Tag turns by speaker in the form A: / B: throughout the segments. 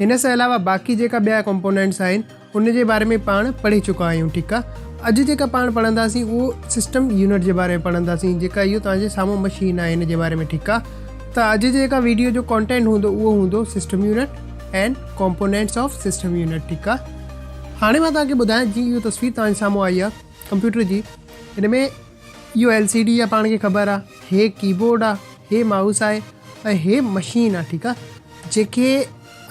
A: هن سان علاوه باقي جيڪا ٻيا ڪمپونينٽس آهن ان جي باري ۾ پاڻ پڙهي چڪا آهيون ٺيڪ آ اڄ جيڪا پاڻ پڙهنداسين اهو سسٽم يونٽ جي باري ۾ پڙهنداسين جيڪا اهو توهان جي سامهون مشين آهي ان جي باري ۾ ٺيڪ آ ته اڄ جيڪا ويڊيو جو ڪانٽينٽ هوندو اهو هوندو system unit and components of system unit ٺيڪ آ هاڻي مان توهان کي ٻڌايان جي اهو تصوير توهان جي سامهون آئي آ ڪمپيوٽر جي هن ۾ اهو ايل سي ڊي آ پاڻ کي خبر آ هي ڪي بورڊ آ هي مائوس آهي ۽ هي مشين آ ٺيڪ آ جيڪي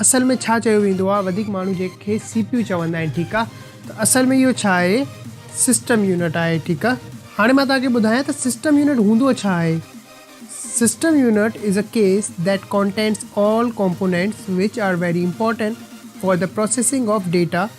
A: اصل ۾ ڇا چيو ويندو آ وڌيڪ ماڻهو جنهن کي سي پي يو چوندا آهن ٺيڪ آ ته اصل ۾ اهو ڇا آهي سسٽم يونٽ آهي ٺيڪ آ هاڻي مان توهان کي ٻڌايان ته سسٽم يونٽ هوندو ڇا آهي system unit is a case that contains all components which are very important for the processing of data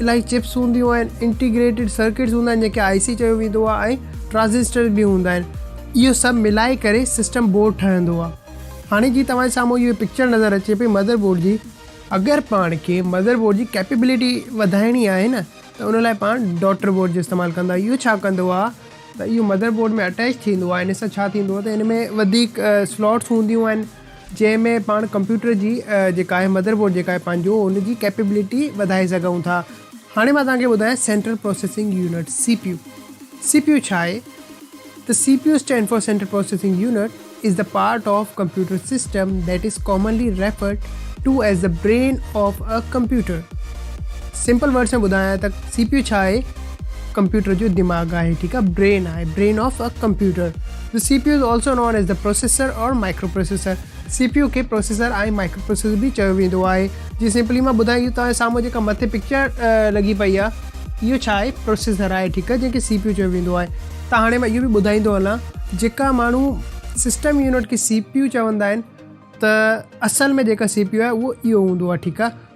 A: الائي چپس هونديون آهن، انٽيگريٽيڊ سرڪٽس هوندا آهن جنهن کي آء سي چيو ويندو آهي ۽ ٽرانزسٽرز به هوندا آهن اهو سڀ ملائي ڪري سسٽم بورڊ ٺهندو آهي هاڻي جي توهان جي سامهون اهو پڪچر نظر اچي پئي مدر بورڊ جي اگر پاڻ کي مدر بورڊ جي ڪيپيبلٽي وڌائڻي آهي نه ته ان لاء پاڻ ڊاٽر بورڊ جو استعمال ڪندا اهو ڇا ڪندو آهي ته اهو مدر بورڊ ۾ اٽيچ ٿيندو آهي ان سان ڇا ٿيندو آهي ته ان ۾ وڌيڪ سلوٽس هونديون آهن جنهن ۾ پاڻ ڪمپيوٽر جي جيڪا آهي مدر بورڊ جيڪا آهي پنهنجو ان جي ڪيپيبلٽي وڌائي سگهون ٿا. هاڻي مان توهان کي ٻڌايان central processing unit, C P U, C P U ڇا آهي؟ ته C P U stand for central processing unit is the part of computer system that is commonly referred to as the brain of a computer. Simple words ۾ ٻڌايان ته C P U ڇا آهي؟ Computer جو دماغ آهي ٺيڪ آهي brain آهي brain of a computer. The cpu is also known as the processor or microprocessor. C P U کي پروسيسر ۽ مائڪرو پروسيسر به چيو ويندو آهي جي سمپلي مان ٻڌايان اهو توهان جي سامهون جيڪا مٿي پڪچر لڳي پئي آهي اهو ڇا آهي پروسيسر آهي ٺيڪ آهي جنهن کي سي پي يو چيو ويندو آهي ته هاڻي مان اهو به ٻڌائيندو هلان جيڪا ماڻهو سسٽم يونٽ کي سي پي يو چوندا آهن ته اصل ۾ جيڪا سي پي يو آهي اهو اهو هوندو آهي ٺيڪ آهي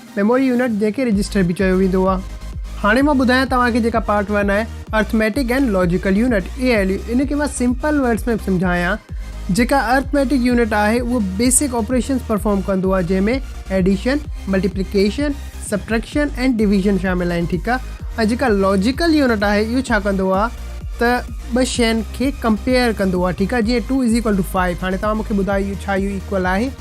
A: ميموري يونٽ جنهن کي رجسٽر به چيو ويندو آهي. هاڻي مان ٻڌايان توهان کي جيڪا پارٽ ون آهي arithmetic and logical unit ALU ان کي مان سمپل ورڊس ۾ سمجهايان جيڪا ارٿميٽڪ يونٽ آهي اهو بيسڪ آپريشنز پرفارم ڪندو آهي جنهن ۾ addition, multiplication, subtraction and division شامل آهن ٺيڪ آهي ۽ جيڪا لاجيڪل يونٽ آهي اهو ڇا ڪندو آهي ته ٻه شين کي ڪمپيئر ڪندو آهي ٺيڪ آهي جيئن two is equal to five هاڻي توهان مون کي ٻڌايو اهو ڇا اهو ايڪول آهي؟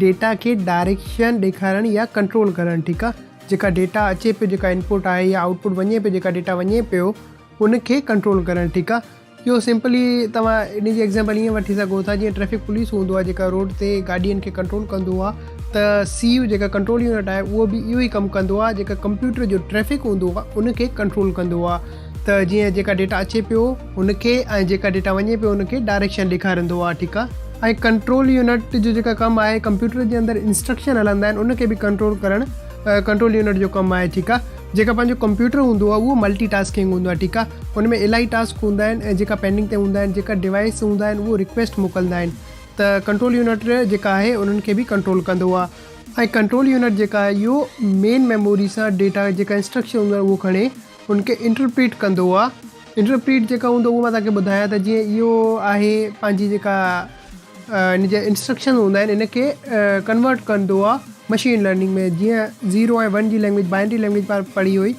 A: ڊيٽا کي ڊائريڪشن ڏيکارڻ يا ڪنٽرول ڪرڻ ٺيڪ آ جيڪا ڊيٽا اچي پيو جيڪا انپوٽ آهي يا آئوٽ پوٽ وڃي پيو جيڪا ڊيٽا وڃي پيو ان کي ڪنٽرول ڪرڻ ٺيڪ آ اهو سمپلي توهان ان جي ايگزامپل ائين وٺي سگهو ٿا جيئن ٽريفڪ پوليس هوندو آهي جيڪا روڊ تي گاڏين کي ڪنٽرول ڪندو آهي ته سي يو جيڪا ڪنٽرول يونٽ آهي اهو به اهو ئي ڪم ڪندو آهي جيڪا ڪمپيوٽر جو ٽريفڪ هوندو آهي ان کي ڪنٽرول ڪندو آهي ته جيئن جيڪا ڊيٽا اچي پيو ان کي ۽ جيڪا ڊيٽا وڃي پيو ان کي ڊائريڪشن ڏيکاريندو آهي ٺيڪ آهي ۽ ڪنٽرول يونٽ جو جيڪا ڪم آهي ڪمپيوٽر جي اندر انسٽرڪشن هلندا آهن ان کي به ڪنٽرول ڪرڻ ڪنٽرول يونٽ جو ڪم آهي ٺيڪ آهي جيڪا پنهنجو ڪمپيوٽر هوندو آهي اهو ملٽي ٽاسڪنگ هوندو آهي ٺيڪ آهي ان ۾ الاهي ٽاسڪ هوندا آهن ۽ جيڪا پينڊنگ تي هوندا آهن جيڪا ڊوائس هوندا آهن اهو رڪويسٽ موڪلندا آهن ته ڪنٽرول يونٽ جيڪا آهي انهن کي به ڪنٽرول ڪندو آهي ۽ ڪنٽرول يونٽ جيڪا آهي اهو مين ميموري سان ڊيٽا جيڪا انسٽرڪشن هوندا آهن اهو کڻي ان کي انٽرپريٽ ڪندو آ انٽرپريٽ جيڪا هوندو اهو مان توهان کي ٻڌايان ته جيئن اهو آهي پنهنجي جيڪا ان جا انسٽرڪشن هوندا آهن ان کي ڪنورٽ ڪندو آ مشين لرننگ ۾ جيئن زيرو ۽ ون جي لينگويج بائنڊري لينگويج پار پڙهي هئي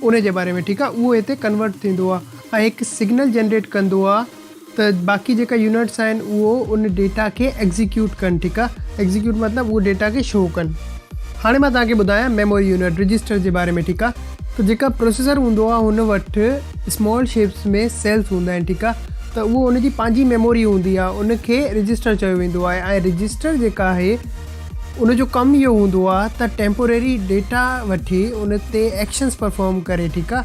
A: ان جي باري ۾ ٺيڪ آ اهو هتي ڪنورٽ ٿيندو آ ۽ هڪ سگنل جنريٽ ڪندو آ ته باقي جيڪا يونٽس آهن اهو ان ڊيٽا کي ايگزيڪيوٽ ڪن ٺيڪ آ ايگزيڪيوٽ مطلب اهو ڊيٽا کي شو ڪن هاڻي مان توهان کي ٻڌايان ميموري يونٽ رجسٽر جي باري ۾ ٺيڪ آ ته جيڪا پروسيسر هوندو آ هن وٽ اسمال شيپس ۾ سيلس هوندا آهن ٺيڪ آ ته اهو ان جي پنهنجي ميموري هوندي آ ان کي رجسٽر چيو ويندو آهي ۽ رجسٽر جيڪا آهي ان جو ڪم اهو هوندو آ ته ٽيمپوريري ڊيٽا وٺي ان تي ايڪشنس پرفارم ڪري ٺيڪ آ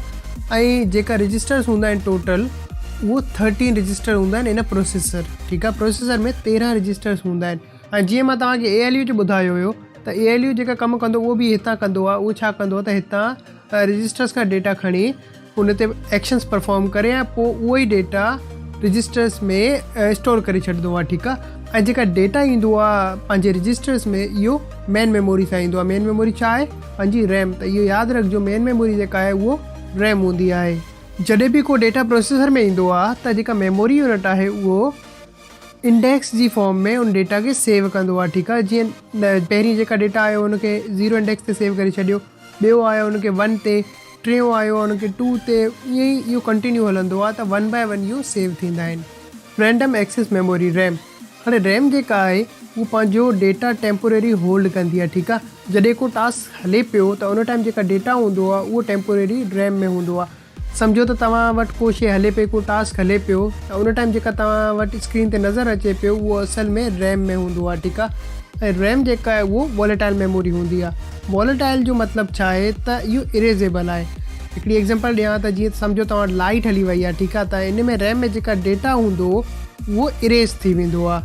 A: ۽ جيڪا رجسٽرس هوندا آهن ٽوٽل اهو ٿرٽين رجسٽر هوندا آهن ان پروسيسر ٺيڪ آهي پروسيسر ۾ تيرهن رجسٽرس هوندا آهن ۽ جيئن مان توهان کي اي ايل يو جو ٻڌايو هيو ته اي ايل يو جيڪا ڪم ڪندو اهو به هتان ڪندو آهي اهو ڇا ڪندو ته هتان رجسٽرس کان ڊيٽا کڻي ان تي ايڪشنس پرفارم ڪري ۽ پوء اهو ئي ڊيٽا رجسٽرس ۾ اسٽور ڪري ڇڏندو آهي ٺيڪ آهي ۽ جيڪا ڊيٽا ايندو آهي پنهنجي رجسٽرس ۾ اهو مين ميموري سان ايندو آهي مين ميموري ڇا آهي پنهنجي ريم ته اهو ياد رکجو مين ميموري جيڪا آهي اهو ريم هوندي آهي جڏهن به ڪو ڊيٽا پروسيسر ۾ ايندو آهي ته جيڪا ميموري يونٽ آهي اهو انڊيڪس جي فارم ۾ ان ڊيٽا کي سيو ڪندو آهي ٺيڪ آهي جيئن پهرين جيڪا ڊيٽا آيو ان کي زيرو انڊيڪس تي سيو ڪري ڇڏيو ٻيو آيو ان کي ون تي ٽيون آيو ان کي ٽو تي ائين ئي اهو ڪنٽينيو هلندو آهي ته ون باء ون اهو سيو ٿيندا آهن رينڊم ايڪسيس ميموري ريم هاڻي ريم جيڪا آهي اهو پنهنجو ڊيٽا ٽيمپوريري هولڊ ڪندي آهي ٺيڪ آهي جڏهن ڪو ٽاسڪ هلي پيو ته ان ٽائيم جيڪا ڊيٽا هوندو آهي اهو ٽيمپوريري ريم ۾ هوندو آهي سمجهو ته توهان وٽ ڪو شي هلي پئي ڪو ٽاسڪ هلي پيو ته ان ٽائيم جيڪا توهان وٽ اسڪرين تي نظر اچي پيو اهو اصل ۾ ريم ۾ هوندو آهي ٺيڪ آهي ۽ ريم جيڪا آهي اهو واليٽائل ميموري هوندي آهي واليٽائل جو مطلب ڇا آهي ته اهو اريزيبل آهي هڪڙي ايگزامپل ڏيان ته جيئن سمجهو توهان وٽ لائيٽ هلي وئي آهي ٺيڪ آهي ته ان ۾ ريم ۾ جيڪا ڊيٽا هوندو اهو Erase ٿي ويندو آهي.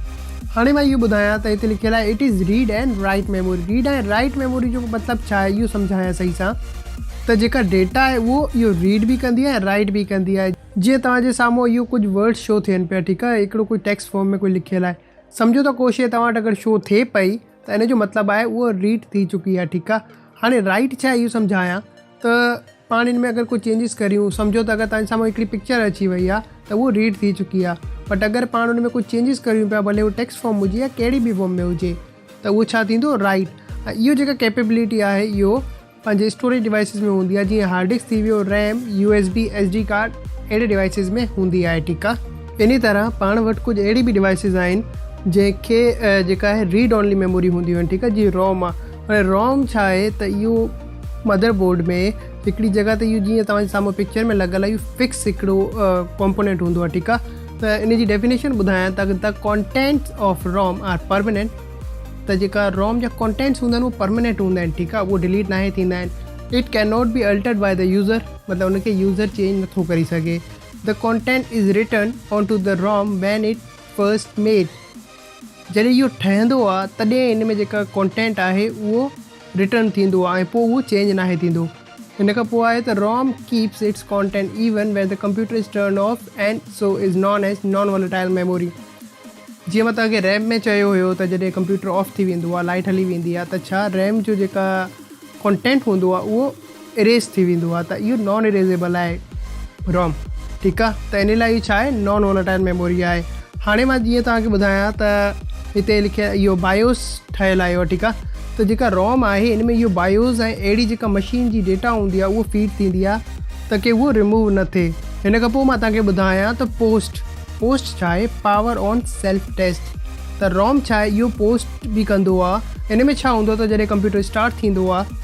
A: هاڻي مان اهو ٻڌايان ته هتي لکيل آهي It is Read and Write Memory Read ۽ Write Memory جو مطلب ڇا آهي اهو سمجهايان صحيح سان ته جيڪا ڊيٽا آهي اهو اهو Read به ڪندي آهي ۽ Write به ڪندي آهي. جيئن توهان جي سامهون اهو ڪجهه Words شو ٿين پيا ٺيڪ آهي هڪڙو ڪجهه Text Form ۾ ڪجهه لکيل آهي سمجهو ته ڪو شيء توهان وٽ اگر شو ٿئي پئي ته ان جو مطلب آهي اهو Read ٿي چڪي آهي ٺيڪ آهي هاڻي Write ڇا آهي اهو سمجهايان ته پاڻ ان ۾ اگر ڪو چينجز ڪريون سمجهو ته اگر تنهنجي سامهون هڪڙي پڪچر اچي وئي آهي ته اهو ريڊ ٿي چڪي آهي بٽ اگر پاڻ ان ۾ ڪو چينجز ڪريون پيا ڀلي اهو ٽيڪسٽ فارم هجي يا ڪهڙي به فارم ۾ هجي ته اهو ڇا ٿيندو رائيٽ ۽ اهو جيڪا ڪيپيبلٽي آهي اهو پنهنجي اسٽوريج ڊوائسز ۾ هوندي آهي جيئن هارڊ ڊسڪ ٿي ويو RAM U S B S D card اهڙي ڊوائسز ۾ هوندي آهي ٺيڪ آهي انهي طرح پاڻ وٽ ڪجهه اهڙي به ڊوائسز آهن جنهن کي جيڪا آهي ريڊ اونلي ميموري هونديون آهن ٺيڪ آهي جيئن روم آهي هاڻي روم ڇا آهي ته اهو مدر بورڊ ۾ هڪڙي جڳهه تي اهو جيئن توهان جي سامهون پڪچر ۾ لڳل آهي اهو فڪس هڪڙو ڪمپونينٽ هوندو آهي ٺيڪ آهي ته ان جي ڊيفينيشن ٻڌايان ته the contents of ROM are permanent ته جيڪا روم جا ڪونٽينٽس هوندا آهن اهو پرمانينٽ هوندا آهن ٺيڪ آهي اهو ڊليٽ ناهي ٿيندا آهن it can not be altered by the user مطلب ان کي يوزر چينج نٿو ڪري سگهي the content is written on to the ROM when it first made جڏهن اهو ٺهندو آهي تڏهن ان ۾ جيڪا ڪونٽينٽ آهي اهو رٽرن ٿيندو ۽ پوء اهو چينج ناهي ٿيندو. ان کان پوء آهي ته ROM keeps its content even when the computer is turned off and so is known as non volatile memory. جيئن مان توهان کي ريم ۾ چيو هيو ته جڏهن ڪمپيوٽر آف ٿي ويندو آهي لائيٽ هلي ويندي آهي ته ڇا ريم جو جيڪا ڪانٽينٽ هوندو آهي اهو اريز ٿي ويندو آهي ته اهو نان اريزيبل آهي روم ٺيڪ آهي ته ان لاء اهي ڇا آهي نان وولٽائل ميموري آهي هاڻي مان جيئن توهان کي ٻڌايان ته هتي لکي اهو بايوس ٺهيل آهي ٺيڪ آهي ته جيڪا روم آهي ان ۾ اهو بايوس ۽ اهڙي جيڪا مشين جي ڊيٽا هوندي آهي اهو فيڊ ٿيندي آهي ته ڪي اهو ريموو نه ٿئي هن کان پوء مان توهان کي ٻڌايان ته پوسٽ پوسٽ ڇا آهي پاور آن سيلف ٽيسٽ ته روم ڇا آهي اهو پوسٽ به ڪندو آهي ان ۾ ڇا هوندو آهي ته جڏهن ڪمپيوٽر اسٽارٽ ٿيندو آهي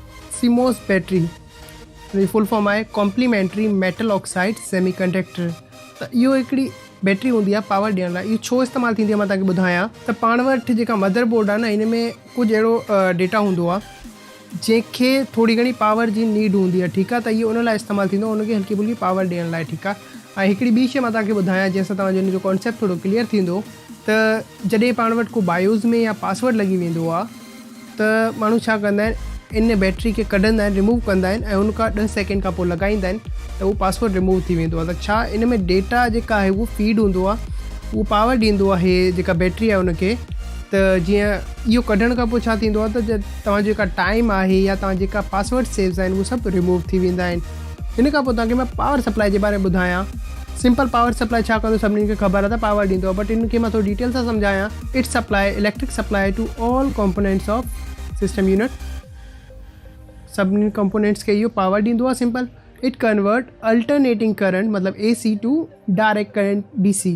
A: سيموس بيٽري جي فل فارم آهي complementary metal oxide semiconductor ته اهو هڪڙي بيٽري هوندي آهي پاور ڏيڻ لاء اهو ڇو استعمال ٿيندي آهي مان توهان کي ٻڌايان ته پاڻ وٽ جيڪا مدر بورڊ آهي نه ان ۾ ڪجهه اهڙو ڊيٽا هوندو آهي جنهن کي ٿوري گهڻي پاور جي نيڊ هوندي آهي ٺيڪ آهي ته اهو ان لاء استعمال ٿيندو آهي ان کي هلڪي ڦلڪي پاور ڏيڻ لاء ٺيڪ آهي ۽ هڪڙي ٻي شيء مان توهان کي ٻڌايان جنهن سان توهان جو ان جو ڪانسيپٽ ٿورو ڪليئر ٿيندو ته جڏهن پاڻ وٽ ڪو بايوز ۾ يا پاسورڊ لڳي ويندو آهي ته ماڻهو ڇا ڪندا آهن ان بيٽري کي ڪڍندا آهن رموو ڪندا آهن ۽ ان کان ڏهه سيڪنڊ کان پوء لڳائيندا آهن ته اهو پاسورڊ رموو ٿي ويندو آهي ته ڇا ان ۾ ڊيٽا جيڪا آهي اهو فيڊ هوندو آهي اهو پاور ڏيندو آهي جيڪا بيٽري آهي ان کي ته جيئن اهو ڪڍڻ کان پوء ڇا ٿيندو آهي ته توهان جيڪا ٽائيم آهي يا توهان جيڪا پاسورڊ سيوز آهن اهو سڀ رموو ٿي ويندا آهن ان کان پوء توهان کي مان پاور سپلائي جي باري ۾ ٻڌايان سمپل پاور سپلائي ڇا ڪندو سڀني کي خبر آهي ته پاور ڏيندو بٽ ان کي مان ٿورو ڊيٽيل سان سمجهايان it supply electric supply to all components of system unit سڀني ڪمپونينٽس کي اهو پاور ڏيندو آهي simple it convert alternating current مطلب A C to direct current D C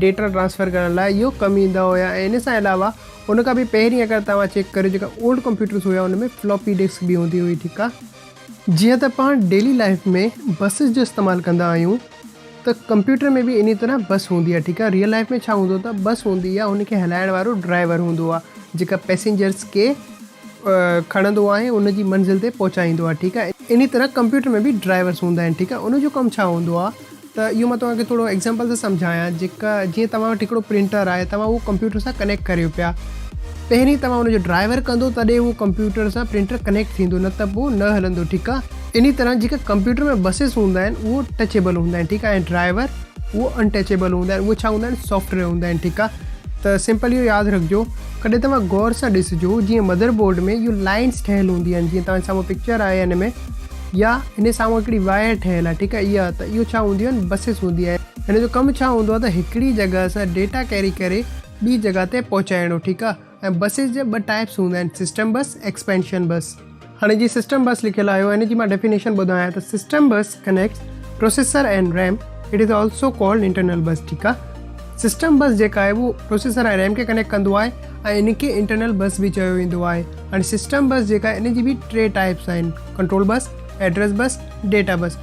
A: data transfer ڪرڻ لاء اهو ڪم ايندا هيا ۽ ان سان علاوه ان کان به پهرين اگر توهان چيڪ ڪريو جيڪا اولڊ ڪمپيوٽرز هيا ان ۾ فلاپي ڊسڪ به هوندي هئي ٺيڪ آ جيئن ته پاڻ ڊيلي لائيف ۾ بسز جو استعمال ڪندا آهيون ته ڪمپيوٽر ۾ به انهي طرح بس هوندي آ ٺيڪ آ ريئل لائيف ۾ ڇا هوندو ته بس هوندي آ ان کي هلائڻ وارو ڊرائيور هوندو آ جيڪا پيسينجرز کي کڻندو آهي ان جي منزل تي پهچائيندو آهي ٺيڪ آهي انهي طرح ڪمپيوٽر ۾ به ڊرائيورس هوندا آهن ٺيڪ آهي ان جو ڪم ڇا هوندو آهي ته اهو مان توهان کي ٿورو ايگزامپل ٿو سمجهايان جيڪا جيئن توهان وٽ هڪڙو پرنٽر آهي توهان اهو ڪمپيوٽر سان ڪنيڪٽ ڪريو پيا پهرين توهان ان جو ڊرائيور ڪندو تڏهن اهو ڪمپيوٽر سان پرنٽر ڪنيڪٽ ٿيندو نه ته پوء نه هلندو ٺيڪ آهي انهي طرح جيڪا ڪمپيوٽر ۾ بسز هوندا آهن اهو ٽچيبل هوندا آهن ٺيڪ آهي ۽ ڊرائيور اهو ان ٽچيبل هوندا آهن اهو ڇا هوندا آهن سافٽويئر هوندا آهن ٺيڪ آهي ته سمپل اهو ياد رکجو ڪڏهن توهان غور سان ڏسجو جيئن مدر بورڊ ۾ اهو لائنس ٺهيل هوندي آهن جيئن توهان سامهون پڪچر آهي ان ۾ يا ان سامهون هڪڙي واير ٺهيل آهي ٺيڪ آهي اها ته اهو ڇا هونديون آهن بسيس هوندي آهن ان جو ڪم ڇا هوندو آهي ته هڪڙي جڳهه سان ڊيٽا ڪيري ڪري ٻي جڳهه تي پهچائڻو ٺيڪ آهي ۽ بسيس جا ٻه ٽائپس هوندا آهن سسٽم بس ايڪسپينشن بس. هاڻي جي سسٽم بس لکيل آهي ان جي مان ڊيفينيشن ٻڌايان ته system bus connects processor and RAM it is also called internal bus ٺيڪ آهي سسٽم بس جيڪا آهي اهو پروسيسر ۽ ريم کي ڪنيڪٽ ڪندو آهي ۽ ان کي انٽرنل بس به چيو ويندو آهي هاڻي سسٽم بس جيڪا آهي ان جي به ٽي ٽائپس آهن control bus address bus data bus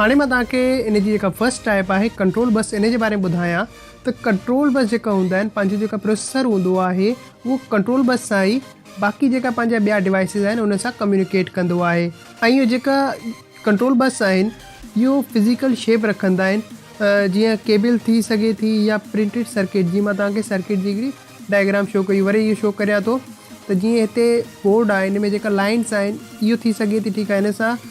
A: هاڻي مان توهان کي ان جي جيڪا فرسٽ ٽائپ آهي ڪنٽرول بس ان جي باري ۾ ٻڌايان ته ڪنٽرول بس جيڪا هوندا آهن پنهنجو جيڪا پروسيسر هوندو آهي اهو ڪنٽرول بس سان ئي باقي جيڪا پنهنجا ٻيا ڊوائسز آهن انهن سان ڪميونيڪيٽ ڪندو آهي ۽ اهي جيڪا ڪنٽرول بس آهن اهو فزيڪل شيپ رکندا آهن جيئن ڪيبل ٿي سگهي ٿي يا پرنٽيڊ سرڪٽ جي مان توهان کي سرڪٽ جي هڪڙي ڊائگرام شو ڪئي وري اهو شو ڪريان ٿو ته جيئن هتي بورڊ آهي ان ۾ جيڪا لائنس آهن اهو ٿي سگهي ٿي ٺيڪ آهي ان سان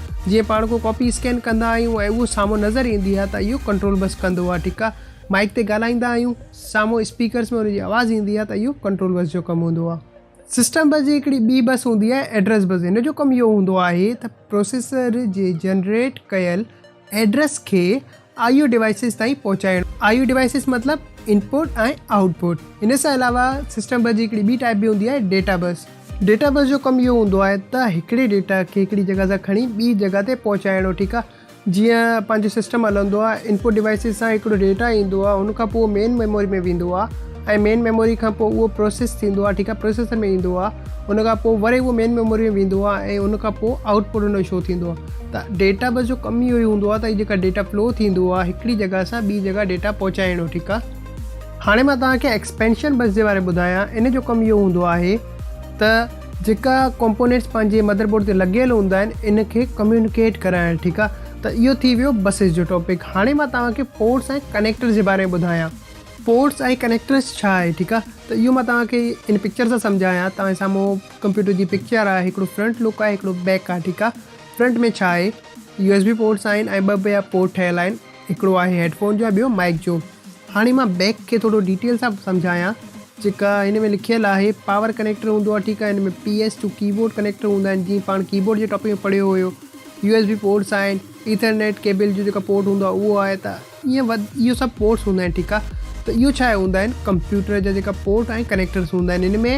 A: جيئن پاڻ ڪو ڪاپي اسڪين ڪندا آهيون ۽ اهو سامهون نظر ايندي آهي ته اهو ڪنٽرول بس ڪندو آهي ٺيڪ آهي مائيڪ تي ڳالهائيندا آهيون سامهون اسپيڪرز ۾ ان جي آواز ايندي آهي ته اهو ڪنٽرول بس جو ڪم هوندو آهي سسٽم بس جي هڪڙي ٻي بس هوندي آهي ايڊريس بس هن جو ڪم اهو هوندو آهي ته پروسيسر جي جنريٽ ڪيل ايڊريس کي آء يو ڊوائسز تائين پهچائڻ. آء يو ڊوائسز مطلب ان پٽ ۽ آئوٽ پٽ. ان سان علاوه سسٽم بس جي هڪڙي ٻي ٽائيپ به هوندي آهي ڊيٽا بس. ڊيٽا بس جو ڪم اهو هوندو آهي ته هڪڙي ڊيٽا کي هڪڙي جڳهه سان کڻي ٻي جڳهه تي پهچائڻو ٺيڪ آهي جيئن پنهنجو سسٽم هلندو آهي ان پٽ ڊوائسز سان هڪڙو ڊيٽا ايندو آهي ان کان پوء مين ميموري ۾ ويندو آهي ۽ مين ميموري کان پوء اهو پروسيس ٿيندو آهي ٺيڪ آهي پروسيسر ۾ ايندو آهي ان کان پوء وري اهو مين ميموري ۾ ويندو آهي ۽ ان کان پوء آئوٽ پٽ ان جو شو ٿيندو آهي ته ڊيٽا بس جو ڪم اهو ئي هوندو آهي ته هي جيڪا ڊيٽا فلو ٿيندو آهي هڪڙي جڳهه سان ٻي جڳهه ڊيٽا پهچائڻو ٺيڪ آهي هاڻي مان توهان کي ايڪسپينشن بس جي باري ٻڌايان ان جو ڪم اهو هوندو آهي ته جيڪا ڪمپونيٽس پنهنجي مدر بورڊ تي لڳيل هوندا آهن ان کي ڪميونيڪيٽ ڪرائڻ ٺيڪ آهي ته اهو ٿي ويو بسز جو ٽاپڪ هاڻي مان توهان کي پورٽس ۽ ڪنيڪٽرز جي باري ۾ ٻڌايان پورٽس ۽ ڪنيڪٽرس ڇا آهي ٺيڪ آ ته اهو مان توهان کي ان پڪچر سان سمجهايان توهان جي سامهون ڪمپيوٽر جي پڪچر آ هڪڙو فرنٽ لڪ آهي هڪڙو بيڪ آ ٺيڪ آ فرنٽ ۾ ڇا آهي يو ايس بي پورٽس آهن ۽ ٻه ٻيا پورٽ ٺهيل آهن هڪڙو آهي هيڊ فون جو ۽ ٻيو مائيڪ جو هاڻي مان بيڪ کي ٿورو ڊيٽيل سان سمجهايان جيڪا هن ۾ لکيل آهي پاور ڪنيڪٽر هوندو آ ٺيڪ آ هن ۾ P S two keyboard connector هوندا آهن جيئن پاڻ ڪي بورڊ جي ٽاپڪ ۾ پڙهيو هيو يو ايس بي پورٽس آهن ايٿرنيٽ ڪيبل جو جيڪا پورٽ هوندو آ اهو آهي ته ائين وڌ اهو سڀ پورٽس هوندا آهن ٺيڪ آهي ته اهو ڇا آهي هوندا آهن ڪمپيوٽر جا جيڪا پورٽ ۽ ڪنيڪٽرس هوندا آهن ان ۾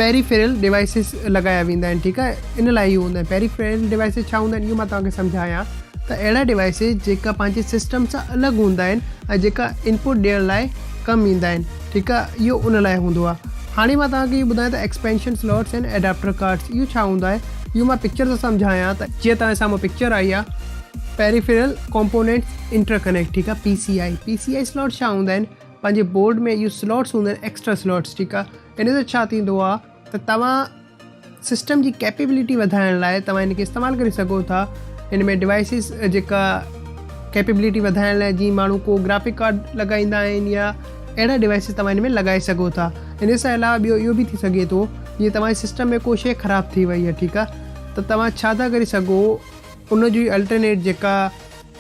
A: پيريفيرل ڊوائسز لڳايا ويندا آهن ٺيڪ آهي ان لاء اهو هوندا آهن پيريفيرل ڊوائسز ڇا هوندا آهن اهو مان توهانکي سمجهايان ته اهڙا ڊوائسز جيڪا پنهنجي سسٽم سان الڳ هوندا آهن ۽ جيڪا انپوٽ ڏيڻ لاء ڪم ايندا آهن ٺيڪ آهي اهو ان لاء هوندو آهي هاڻي مان توهانکي اهو ٻڌايان ته ايڪسپينشن سلوٽس ۽ ايڊاپٽر ڪارڊس اهو ڇا هوندا آهن اهو مان پڪچر سان سمجهايان ته جيئن توهان جي سامهون پڪچر آئي آهي. پيريفيرل ڪمپونينٽس انٽر ڪنيڪٽ ٺيڪ آهي P C I P C I slots ڇا هوندا آهن پنهنجي بورڊ ۾ اهي سلوٽس هوندا آهن ايڪسٽرا سلوٽس ٺيڪ آهي ان سان ڇا ٿيندو آهي ته توهان سسٽم جي ڪيپيبلٽي وڌائڻ لاء توهان هن کي استعمال ڪري سگهو ٿا هن ۾ ڊوائسز جيڪا ڪيپيبلٽي وڌائڻ لاء جي ماڻهو ڪو گرافڪ ڪارڊ لڳائيندا آهن يا اهڙا ڊوائسز توهان هن ۾ لڳائي سگهو ٿا ان سان علاوه ٻيو اهو به ٿي سگهي ٿو جيئن توهان سسٽم ۾ ڪو شيء خراب ٿي وئي آهي ٺيڪ آهي ته توهان ڇا ٿا ڪري سگهو ان جو ئي الٽرنيٽ جيڪا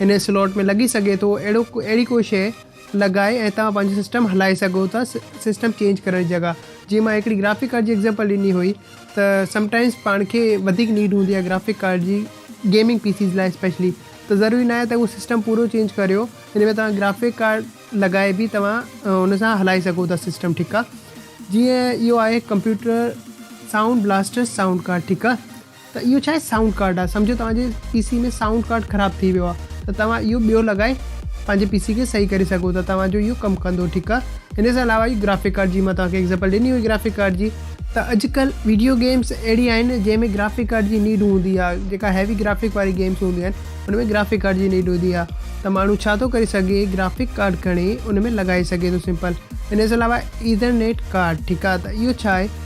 A: ان سلوٽ ۾ لڳي سگهي ٿو اهڙو اهڙي ڪو شيء لڳائي ۽ توهان پنهنجو سسٽم هلائي سگهو ٿا سسٽم چينج ڪرڻ جي جڳهه جيئن مان هڪڙي گرافڪ ڪارڊ جي ايگزامپل ڏني هئي ته سم ٽائمز پاڻ کي وڌيڪ نيڊ هوندي آهي گرافڪ ڪارڊ جي گيمنگ پي سيز لاء اسپيشلي ته ضروري ناهي ته اهو سسٽم پورو چينج ڪريو ان ۾ توهان گرافڪ ڪارڊ لڳائي به توهان ان سان هلائي سگهو ٿا سسٽم ٺيڪ آهي جيئن اهو آهي computer Sound Blaster sound card ٺيڪ آهي ته اهو ڇاهي سائونڊ ڪارڊ آهي سمجهو توهان جي پي سي ۾ سائونڊ ڪارڊ خراب ٿي ويو آهي ته توهان اهو ٻيو لڳائي پنهنجي پي سي کي صحيح ڪري سگهو ٿا توهان جو اهو ڪم ڪندو ٺيڪ آهي ان سان علاوه اهو گرافڪ ڪارڊ جي مان توهان کي ايگزامپل ڏني هئي گرافڪ ڪارڊ جي ته اڄڪلهه ويڊيو گيمس اهڙي آهن جنهن ۾ گرافڪ ڪارڊ جي نيڊ هوندي آهي جيڪا هيوي گرافڪ واري گيمس هونديون آهن ان ۾ گرافڪ ڪارڊ جي نيڊ هوندي آهي ته ماڻهو ڇا ٿو ڪري سگهي گرافڪ ڪارڊ کڻي ان ۾ لڳائي سگهي ٿو سمپل ان سان علاوه ايٿرنيٽ ڪارڊ ٺيڪ آهي ته اهو ڇاهي